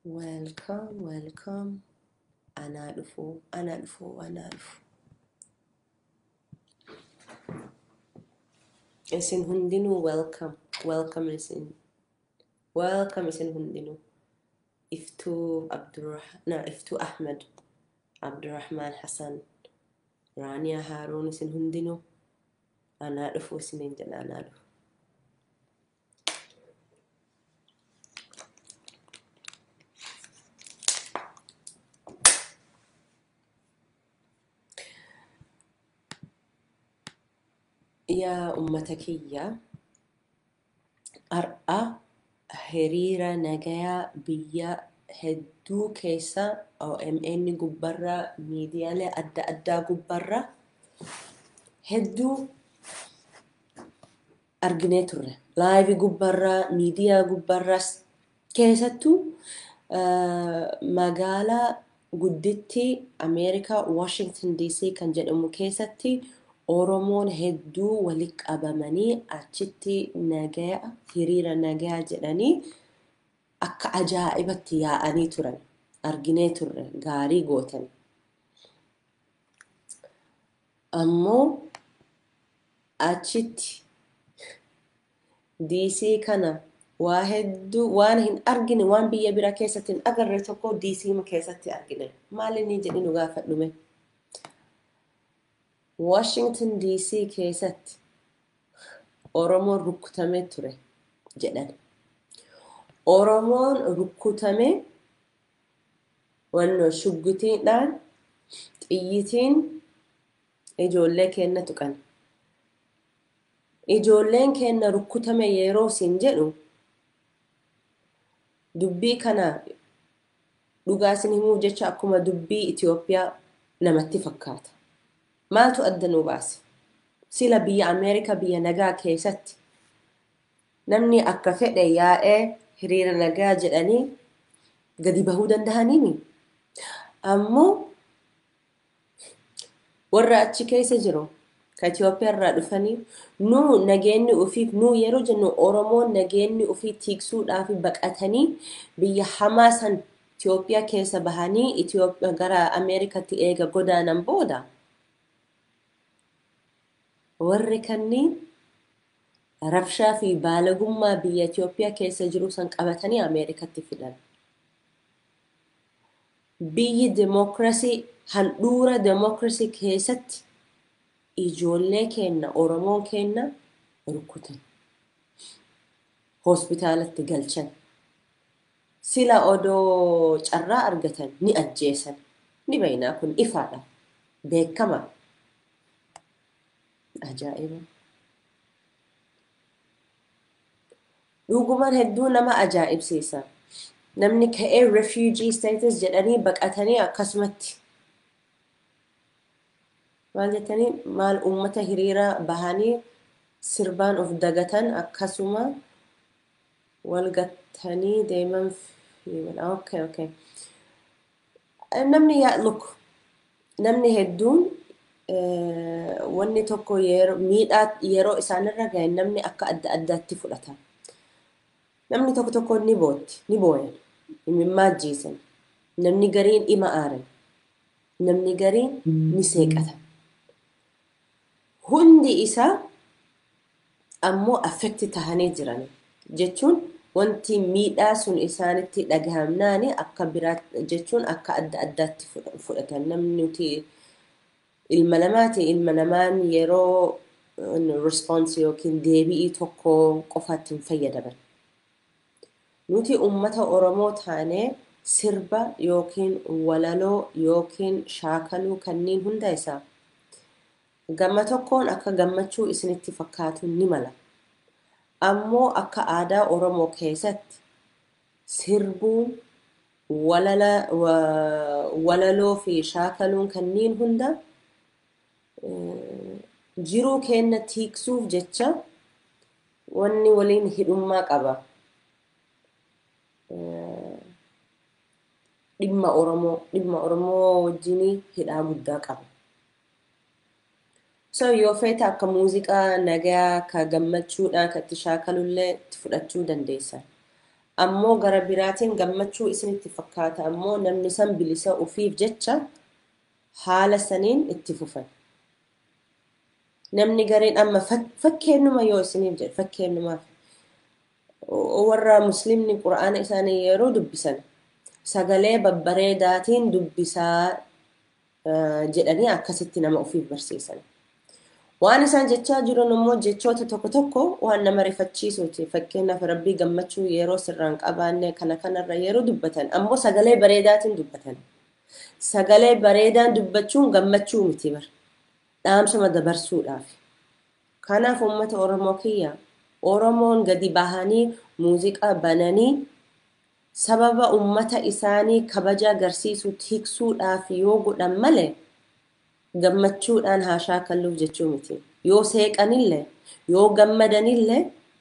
Welcome welcome anaa dhufu anaa dhufu anaa dhufu isin hundinuu welcome welcome isin welcome isin hundinuu iftuu abdurrah na iftuu ahmed abdurrahmaan hasan raaniyaa haaruun isin hundinuu anaa dhufu isiniin jedha anaa dhufu yaa ummata kiyya har'a hiriira nagayaa biyya hedduu keessa OMN gubbarra miidiyaalee adda addaa gubbarra hedduu arginee turre. Live gubbarraa, miidiyaa gubbarraas keessattuu magaalaa guddittii Ameerikaa Washington DC kan jedhamu keessatti Oromoon hedduu wali qabamanii achitti nagaya hiriira nagayaa jedhanii akka ajaa'ibatti yaa'anii turan arginee turre gaarii gootan. ammoo achitti DC kana waa hedduu waan hin argine waan biyya bira keessatti hin agarre tokko DC keessatti argine maali ni jedhi nu gaafadhume Washington DC keessatti Oromoon rukkutamee ture jedhan Oromoon rukkutamee Wannoo shuggutiidhaan xiyyitiin ijoollee keenna tuqan. Ijoolleen keenna rukkutame yeroo siin jedhu dubbii kana dhugaa isin himuuf jecha akkuma dubbii Itoophiyaa namatti fakkaata. Maaltu adda nu baase? Sila biyya Ameerikaa biyya nagaa keessatti Namni akka fedhe yaa'ee hiriira nagaa jedhanii gadi bahuu dandahaniimi. Ammoo warra achi keessa jiru ka Itoophiyaa irraa dhufanii nu nageenni ufiif nu yeroo jennu Oromoon nageenni ufii tiiksuudhaaf baqatanii biyya hamaa san Itoophiyaa keessa bahanii Itoophiyaa gara Ameerikatti eega godaanan booda warri kanniin Rabshaa fi baalagummaa biyya Itoophiyaa keessa jiruu san qabatanii Ameerikatti fidan. Biyyi demokrasii handhuura demokrasii keessatti ijoollee keenna Oromoon keenna rukutan. Hospitaalatti galchan. Sila odoo carraa argatan ni ajjeesan. Ni beeynaa kun ifaadha. Beekkamaa. Ajaa'iba! Dhuguman hedduu nama ajaa'ibsiisa. Namni ka'ee refugee status jedhanii baqatanii akkasumatti maal jettanii maal uummata hiriira bahanii sirbaan of dagatan akkasuma wal gattanii deeman okay okay namni yaa look namni hedduun eh, wanni tokko yeroo miidhaa yeroo isaanirra gahe namni akka adda addaatti fudhata. Namni tokko tokko ni bootti, ni booyan, imimmaa ajjeesan, namni gariin ima aaran, namni gariin ni seeqata. Hundi isaa ammoo affect tahanii jiran. Jechuun wanti miidhaa sun isaanitti dhagahamnaani akka biraa jechuun akka adda addaatti fudhatan. Namni nuti ilma namaati, ilma namaan yeroo response yookiin deebi'ii tokko qofaatti hin fayyadaman. Nuti ummata Oromoo taane sirba yookiin walaloo yookiin shaakaluu kanniin hunda isaa Gama tokkoon akka gammachuu isinitti fakkaatu ni mala. Ammoo akka aadaa Oromoo keessatti sirbuun, walala, walaloo fi shaakaluun kanniin hunda jiruu keenna tiiksuuf jecha wanni waliin hidhummaa qaba. Dhimma Oromoo, dhimma Oromoo wajjinii hidhaa guddaa qaba. So yoo feete akka muuziqaa nagayaa ka gammachuudhaa ka itti shaakalullee itti fudhachuu dandeessa. Ammoo gara biraatiin gammachuu isinitti fakkaata ammoo namni san bilisa ufiif jecha haala saniin itti fufan. Namni gariin amma fak- fakkeennuma yoo isiniif jedhe fakkeennumaaf warra muslimni qura'aana isaanii yeroo dubbisan sagalee babbareedaatiin dubbisaa jedhanii akkasitti nama ofiif barsiisan. Waan isaan jechaa jiran immoo jechoota tokko tokko waan nama rifachiisuuti. Fakkeenyaaf rabbii gammachuu yeroo sirraan qabaanne kana kanarra yeroo dubbatan ammoo sagalee bareedaatiin dubbatan. Sagalee bareedaan dubbachuun gammachuu miti bar. Dhaamsuma dabarsuudhaaf. Kanaaf uummata Oromoo kiyya Oromoon gadi bahanii muuziqaa bananii sababa ummata isaanii kabaja agarsiisuu tiksuudhaaf yoo godhan male gammachuudhaan haa shaakalluuf jechuu miti. Yoo seeqanille, yoo gammadanille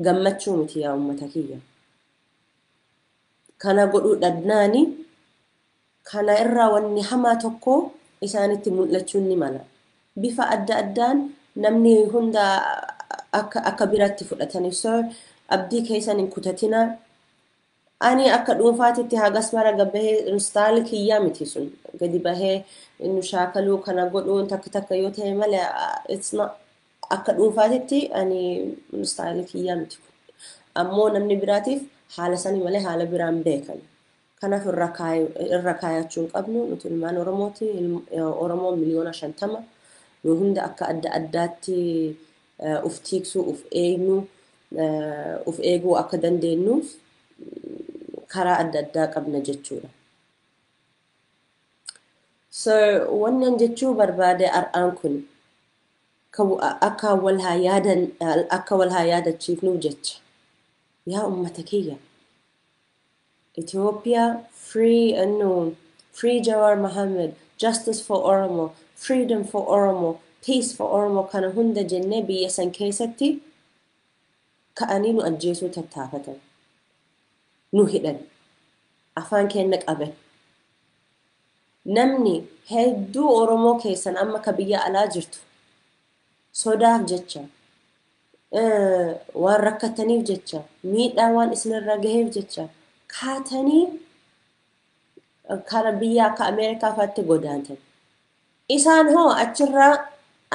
gammachuu miti yaa ummata kiyya. Kana godhuu dhabnaani kana irraa wanni hamaa tokko isaanitti mul'achuun ni mala. Bifa adda addaan namni hunda akka akka biratti fudhataniif so abdii keessan hin kutatinaa Ani akka dhuunfaatitti hagas mara gabbahee instaali kiyyaa miti sun gadi bahee nu shaakaluu kana godhuun takka takka yoo ta'e malee it's not akka dhuunfaatitti ani instaali kiyyaa miti kun. Ammoo namni biraatiif haala sanii malee haala biraan beekan. Kanaaf irra kaay- irra kaayachuu hin qabnu nuti ilmaan Oromooti ilm- Oromoo miliyoona shantama nu hunda akka adda addaatti uf tiiksuu, uf eegnu, uf eeguu akka dandeennuuf karaa adda addaa qabna jechuudha. So wannan jechuu barbaade har'aan kun akka wal haa yaadan akka wal haa yaadachiifnuuf jecha yaa ummata kiyya Ethiopia free NU free Jawar Mohammed justice for Oromo freedom for Oromo peace for Oromo kana hunda jennee biyya san keessatti ka'anii nu ajjeesuu tattaafatan nu hidhan afaan keenna qaban namni hedduu Oromoo keessan amma ka biyya alaa jirtu sodaaf jecha waan rakkattaniif jecha miidhaa waan isinirra gaheef jecha kaatanii kara biyya akka Ameerikaa fa'aatti godaantan. Isaan hoo achirraa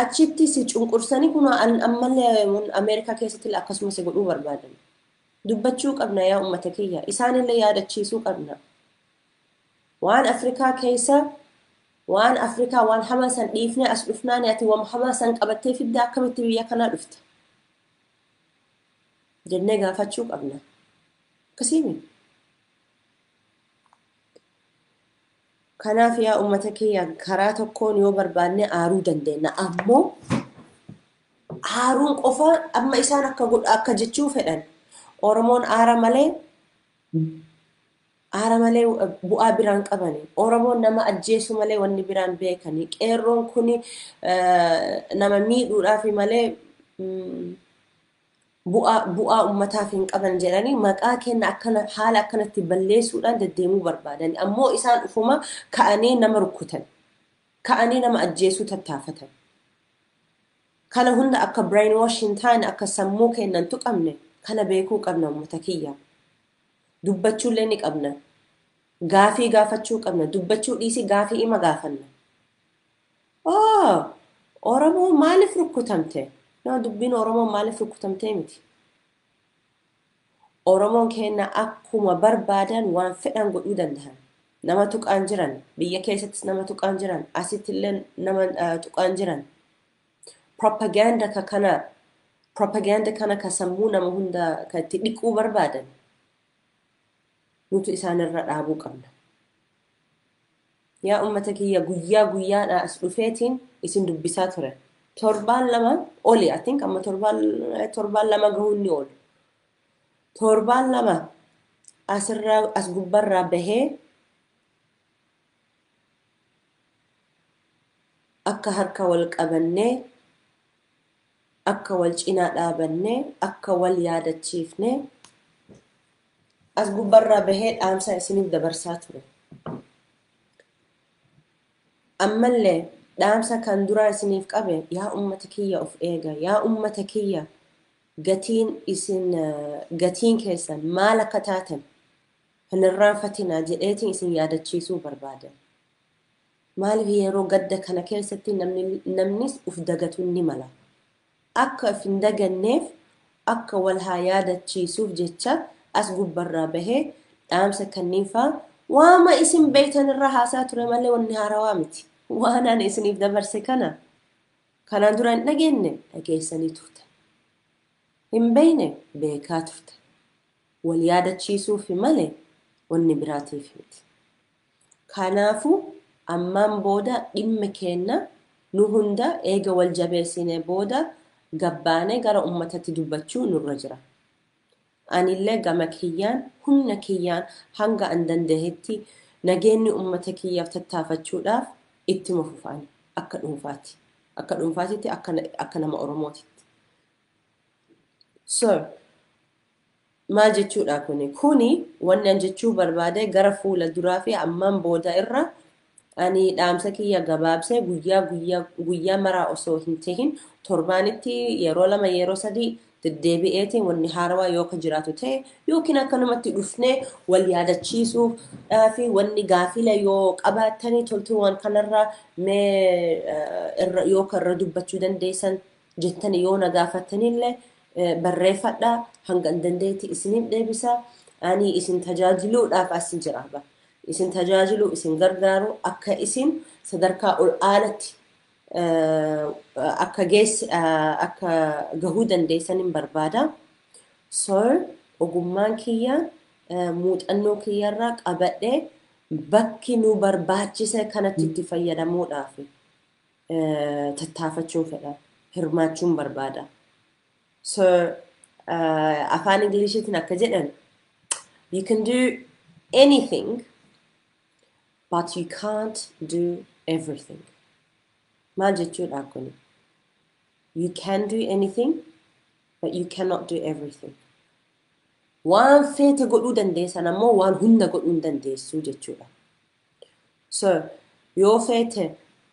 achitti si cunqursanii kun ammallee Ameerikaa keessatti akkasuma si godhuu barbaadan. Dubbachuu qabna yaa uummata kiyya. Isaanillee yaadachiisuu qabna. Waan Afrikaa keessa waan Afrikaa waan hamaa san dhiifnee as dhufnaani ati waan hamaa san qabattee fidda akkamitti biyya kanaa dhufta? jennee gaafachuu qabna. Akkasiimi. Kanaaf yaa uummata kiyya karaa tokkoon yoo barbaanne aaruu dandeenya. Ammoo aaruun qofa amma isaan akka godha akka jechuu fedhan. Oromoon aara malee Aara malee bu'aa biraan qabani. Oromoon nama ajjeesuu malee wanni biraan beekani. Qeerroon kuni nama miidhuudhaafi malee bu'aa bu'aa ummataaf hin qaban jedhanii maqaa kenna akkana haala akkanatti balleessuudhaan deddeemuu barbaadani. Ammoo isaan ufuma ka'anii nama rukkutan. Ka'anii nama ajjeesuu tattaafatan. Kana hunda akka brainwash hin taane akka sammuu kennan tuqamne kana beekuu qabna ummata kiyyaa. dubbachuullee ni qabna. Gaafii gaafachuu qabna. Dubbachuu dhiisii gaafii ima gaafanna. Oo! Oromoo maaliif rukkutamte? No, dubbiin Oromoo maaliif rukkutamtee miti. Oromoon keenya akkuma barbaadan waan fedhan godhuu danda'an. Nama tuqaan jiran, biyya keessattis nama tuqaan jiran, asittillee nama tuqaan jiran. Propaganda ka kana propaganda kana ka sammuu nama hunda ka itti dhiquu barbaadan nutu isaanirra dhaabuu qabna. Yaa ummata kiyya guyyaa guyyaadha as dhufeetiin isin dubbisaa ture. Torbaan lama oli, I think amma torbaan torbaan lama gahuun ni oolu. Torbaan lama asirraa as gubbarraa bahee Akka harka wal qabannee, akka wal cinaa dhaabannee, akka wal yaadachiifnee as gubbarraa bahee dhaamsaa isiniif dabarsaa ture. Ammallee dhaamsa kan duraa isiniif qabe yaa ummata kiyya of eega, yaa ummata kiyya gatiin isin gatiin keessan maal akka taatan Hin irraanfatinaa jedheetiin isin yaadachiisuu barbaada. Maaliif yeroo gadda kana keessatti namnis uf dagatuun ni mala. Akka uf hin daganneef akka wal haa yaadachiisuuf jecha as gubbarraa bahee dhaamsa kanniinfaa waama isin beektan irraa haasaa ture malee wanni haarawaa miti. Waan ani isiniif dabarse kana kanaan dura hin dhageenne dhageessanii turtan. Hin beekne beekaa turtan. wal yaadachiisuufi malee wanni biraatiif miti. Kanaafu, ammaan booda dhimmi keenna nu hunda eega wal jabeessinee booda gabbaanee gara ummatatti dubbachuu nurra jira. Anillee gama kiyyaan humna kiyyaan hanga an dandahetti nageenni ummata kiyyaaf tattaafachuudhaaf ittuma fufa ani akka dhuunfaati akka dhuunfaatitti akka akka nama Oromootitti. Sir. Maal jechuudha kuni? Kuni wanni an jechuu barbaade gara fuula duraa fi ammaan booda irra ani dhaamsa kiyya gabaabsee guyyaa guyyaa guyyaa maraa osoo hin tahin torbaanitti yeroo lama yeroo sadii deddeebi'eetiin wanni haarawaa yoo ka jiraatu ta'e yookiin akkanumatti dhufnee wal yaadachiisuuf dhaa fi wanni gaafila yoo qabaattanii toltuuwwan kanarraa mee eh, irra- yoo ka irra dubbachuu dandeessan jettani yoo na gaafattanille barreeffadha hangan dandeetti isinin deebisa ani isin tajaajiluudhaaf asin jira bar isin tajaajiluu isin gargaaru akka isin sadarkaa ol aanatti akka geess akka gahuu dandeessanin barbaada so ogummaan kiyya muuxannoo kiyyarraa qabadhe bakki nu barbaachise kanatti itti fayyadamuudhaaf tattaafachuun fedha hirmaachuun barbaada so afaan ingiliishiitiin akka jedhan you can do anything but you can't do everything maal jechuudha kun you can do anything but you cannot do everything waan feete godhuu dandeessan ammoo waan hunda godhuu hin dandeessuu jechuudha Sir, yoo feete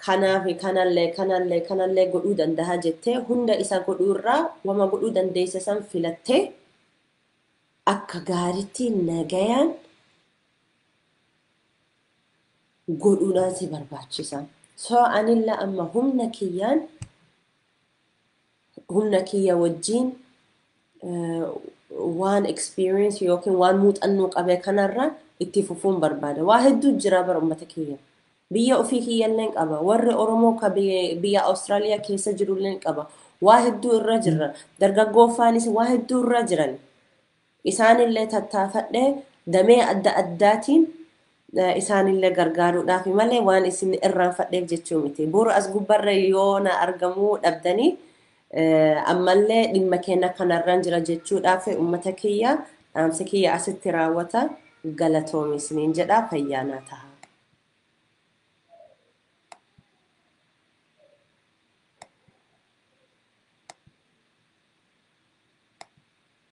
kanaafi kanallee kanallee kanallee godhuu dandaha jettee hunda isa godhuu irraa wama godhuu dandeesse san filattee akka gaaritti nagayaan godhuudhaan si barbaachisa. So anillee amma humna kiyyaan humna kiyya wajjiin waan experience yookiin waan muuxannoo qabe kanarra itti fufuun barbaada. Waa hedduu jira bara uummata kiyya. Biyya ofii kiyyalleen qaba. Warri Oromoo ka biyya Awustiraaliyaa keessa jirulleen qaba. Waa hedduu irra jirra. Dargaggooffaanis waa hedduu irra jiran. Isaanillee tattaafadhe damee adda addaatiin isaanillee gargaaruudhaafi malee waan isin irraanfadheef jechuu miti. Bor as gubbarra yoo na argamuu dhabdanii ammallee dhimma keenya kanarran jira jechuudhaaf uummata kiyya dhaamsi kiyya asitti raawwata galatoomi isiniin jedha fayyaa naa taha.